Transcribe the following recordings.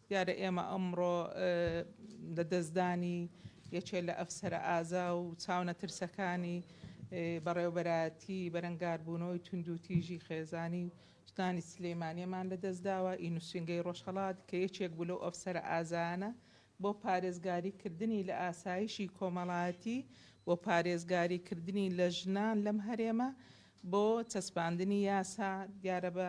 دیارە ئێمە ئەمڕۆ لە دەستدانی یەکێ لە ئەفسەرە ئازا و چاونەترسەکانی بەڕێوەبەرایەتی بەرەنگاربوونەوەی توندوتیژی خێزانی و ژنانی سلێمانیەمان لە دەستداوە، ی نوسینگەی ڕۆژهەڵات کە یەکێک بوو لەو ئەفسەرە ئازایانە بۆ پارێزگاری کردنی لە ئاسایشی کۆمەڵایەتی و پارێزگاری کردنی لە ژنان لەم هەرێمە بۆ چەسپاندنی یاسا دیارە بە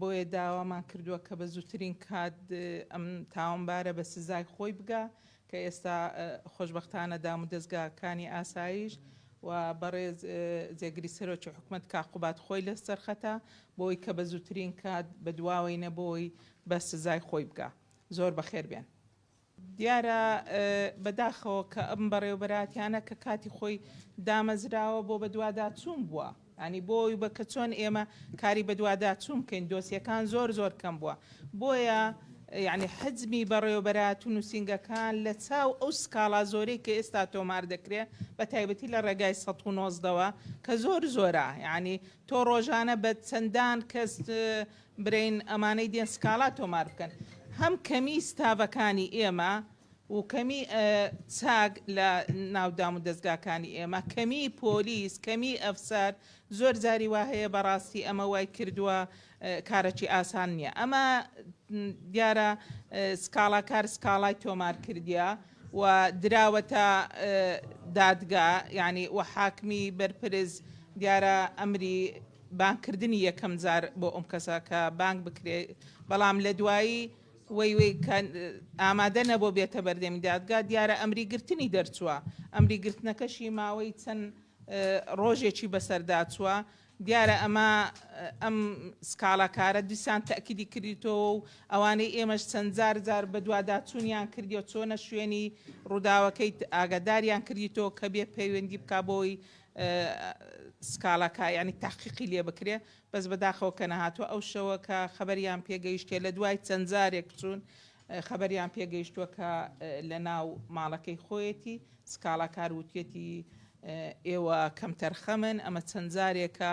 بۆیە داوامان کردووە کە بە زووترین کات ئەم تاوانبارە بە سزای خۆی بگا کە ئێستا خۆشبەختانە دامودەزگاکانی ئاسایش و بەڕێز جێگری سەرۆکی حکومەت کاک قوباد خۆی لە سەرخەتە بۆی کە بە زووترین کات بە دواوەی نەبۆی بە سزای خۆی بگا. زۆر بەخێر بێن. دیارە بەداخەوە کە ئەم بەڕێوەبەراتیانە کە کاتی خۆی دامەزراوە بۆ بەدواداچوون بووە ینی بۆی بە کە چۆن ئێمە کاری بەدواداچوون بکەین دۆسیەکان زۆر زۆر کەم بووە بۆیە یعنی حەجمی بەڕێوەبەرات و نووسنگەکان لە چاو ئەو سکاڵا زۆرەی کە ئێستا تۆمار دەکرێت بە تایبەتی لە ڕێگای 1970ەوە کە زۆر زۆرە یعنی تۆ ڕۆژانە بە چەندان کەس برێن ئەمانەی دێن سکاڵا تۆمار بکەن هەم کەمی ستافەکانی ئێمە و کەمی چاک لە ناو دام و دەستگاکانی ئێمە کەمی پۆلیس کەمی ئەفسەر زۆر جاری وا هەیە بەڕاستی ئەمە وای کردووە کارەکی ئاسان نییە ئەمە دیارە سکاڵاکار سکاڵای تۆمار کردیە و دراوەتە دادگا یعنی و حاکمی بەرپرز دیارە ئەمری بانگ کردنی یەکەم جار بۆ ئەم کەسە کە بانگ بکرێ بەڵام لە دوایی وەی وەی کە ئامادە نەبوو بێتە بەردەمی دادگا دیارە ئەمری گرتنی دەرچووە ئەمری گرتنەکەشی ماوەی چەند ڕۆژێکی بەسەردا چووە دیارە ئەمە ئەم سکاڵاکارە دیسان تاکیدی کردیتەوە و ئەوانەی ئێمەش چەند جار جار بە دوواداچوونیان کردیەوە چۆنە شوێنی ڕووداوەکەی ئاگاداریان کردیتەوە کە بێ پەیوەندی بک بۆی سکاڵا کا یانی تەحقیقی لێ بکرێ بەس بەداخەوە کە نەهاتوە ئەو شەوە کە خەبەریان پێگەیشتێ لە دوای چەند جارێک چوون خەبەریان پێگەیشتووە کە لە ناو ماڵەکەی خۆیەتی سکاڵاکار وتێتی ئێوە کەمتەرخەمن ئەمە چەند جارێکە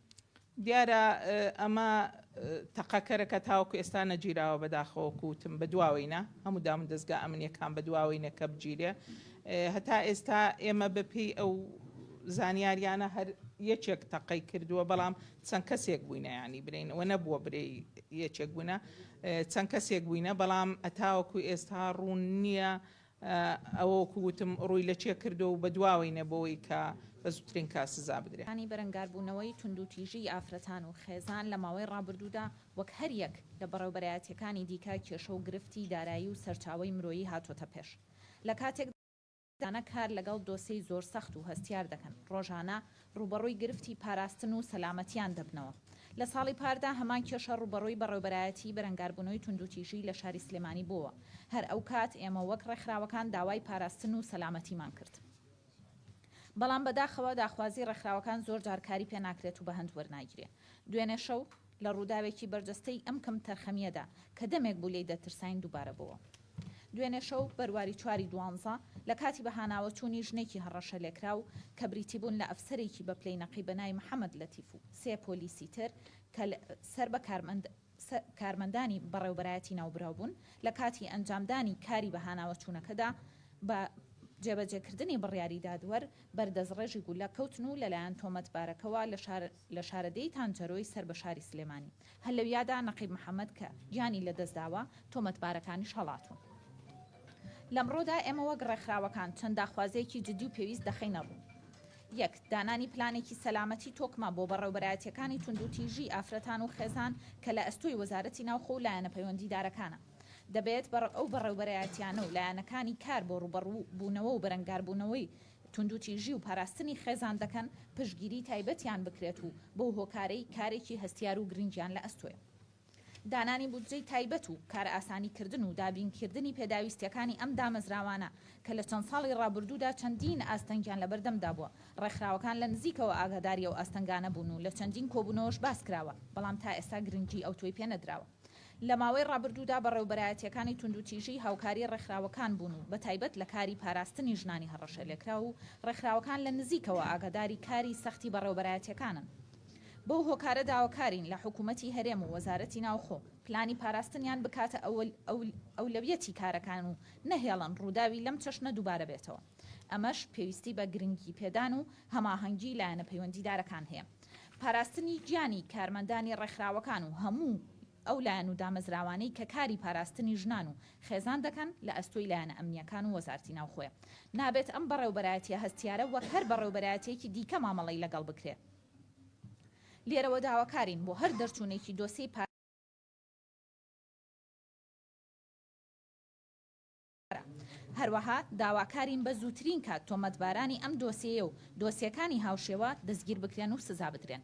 دیارە ئەمە تەقەکەرە کە تاوەکو ئێستا نەگیراوە بەداخەوە وەکو وتم بەدواوەینە هەموو دامودەزگا ئەمنیەکان بەدواوەینە کە بگیرێ هەتا ئێستا ئێمە بەپێی ئەو زانیاریانە هەر یەکێک تەقەی کردووە بەڵام چەند کەسێک بووینە ینی برین و نەبووە برێ یەکێک بوونە چەند کەسێک بووینە بەڵام ئەتاوەکو ئێستا ڕوون نییە ئەوە وەکو وتم ڕووی لە چێ کردووە و بە دواوەینە بۆوەی کە بە زووترین کات سزا بدرێ. ی بەرەنگاربوونەوەی توندوتیژیی ئافرەتان و خێزان لە ماوەی ڕابردوودا وەک هەر یەک لە بەڕێوەبەرایەتییەکانی دیکە کێشە و گرفتی دارایی و سەرچاوەی مرۆیی هاتۆتە پێش لە کاتێکدا کە ڕۆژانە کار لەگەڵ دۆسێی زۆر سەخت و هەستیار دەکەن ڕۆژانە ڕووبەڕووی گرفتی پاراستن و سەلامەتیان دەبنەوە. لە ساڵی پاردا هەمان کێشە ڕووبەڕووی بەڕێوبەرایەتیی بەرەنگاربوونەوەی توندوتیژی لە شاری سلێمانی بووەوە، هەر ئەو کات ئێمە وەک ڕێکخراوەکان داوای پاراستن و سەلامەتیمان کرد، بەڵام بەداخەوە داخوازی ڕێکخراوەکان زۆر جار کاری پێ ناکرێت و بەهەند وەرناگیرێ دوێنێ شەو. لە ڕووداوێکی بەرجەستەی ئەم کەمتەرخەمییەدا کە دەمێک بوو لێی دەترساین دووبارە بۆوە. دوێنێ شەو، بەرواری چواری دوانزە، لە کاتی بەهاناوەچوونی ژنێکی هەڕەشەلێکراو کە بریتیبوون لە ئەفسەرێکی بەپلەی نەقیب بەناوی محەمەد لەتیف و سێ پۆلیسی تر کە سەر بە کارمەندانی بەڕێوەبەرایەتی ناوبراو بوون، لە کاتی ئەنجامدانی کاری بەهاناوەچوونەکەدا بە جێبەجێکردنی بڕیاری دادوەر بەر دەستڕێژی گولە کەوتن و لەلایەن تۆمەتبارەکەوە لە شارەداری لە شارەدێی تانچەرۆی سەر بە شاری سلێمانی هەر لەویادا نەقیب محەمەد کە گیانی لەدەستداوە، تۆمەتبارەکانیش هەڵاتوون. لەمڕۆدا ئێمە وەک ڕێکخراوەکان چەند داخوازییەکی جدی و پێویست دەخەینە ڕوو. یەک، دانانی پلانێکی سەلامەتی تۆکمە بۆ بەڕێوبەرایەتییەکانی توندوتیژی ئافرەتان و خێزان کە لە ئەستۆی وەزارەتی ناوخۆ و لایەنە پەیوەندیدارەکانە. دەبێت ئەو بەڕێوبەرایەتییانە و لایەنەکانی کار بۆ ڕووبەڕووبوونەوە و بەرەنگاربوونەوەی توندوتیژی و پاراستنی خێزان دەکەن، پشتگیری تایبەتیان بکرێت و بەو هۆکارەی کارێکی هەستیار و گرنگیان لە ئەستۆیە. دانانی بودجەی تایبەت و کارئاسانیکردن و دابینکردنی پێداویستییەکانی ئەم دامەزراوانە کە لە چەند ساڵی ڕابردوودا چەندین ئاستەنگیان لە بەردەمدا بووە، ڕێکخراوەکان لە نزیکەوە ئاگاداری ئەو ئاستەنگانە بوون و لە چەندین کۆبوونەوەش باس کراوە، بەڵام تا ئێستا گرنگی ئەوتۆی پێ نەدراوە. لە ماوەی ڕابردوودا بەڕێوبەرایەتییەکانی توندوتیژی هاوکاری ڕێکخراوەکان بوون و بە تایبەت لە کاری پاراستنی ژنانی هەڕەشەلێکراو و ڕێکخراوەکان لە نزیکەوە ئاگاداری کاری سەختی بەڕێوبەرایەتییەکانن بەو هۆکارە داواکارین لە حکوومەتی هەرێم و وەزارەتی ناوخۆ پلانی پاراستنیان بکاتە ئەولەویەتی کارەکان و نەهێڵن ڕووداوی لەم چەشنە دووبارە بێتەوە ئەمەش پێویستی بە گرنگیپێدان و هەماهەنگی لایەنە پەیوەندیدارەکان هەیە. پاراستنی گیانی کارمەندانی ڕێکخراوەکان و هەموو ئەو لایەن و دامەزراوانەی کە کاری پاراستنی ژنان و خێزان دەکەن لە ئەستۆی لایەنە ئەمنییەکان و وەزارتی ناوخۆیە. نابێت ئەم بەڕێوبەرایەتییە هەستیارە وەک هەر بەڕێوبەرایەتییەکی دیکە مامەڵەی لەگەڵ بکرێ. لێرەوە داواکارین بۆ هەر دەرچوونێکی دۆسێی. هەروەها داواکارین بە زووترین کات تۆمەتبارانی ئەم دۆسێیە و دۆسێکانی هاوشێوە دەستگیربکرێن و سزابدرێن.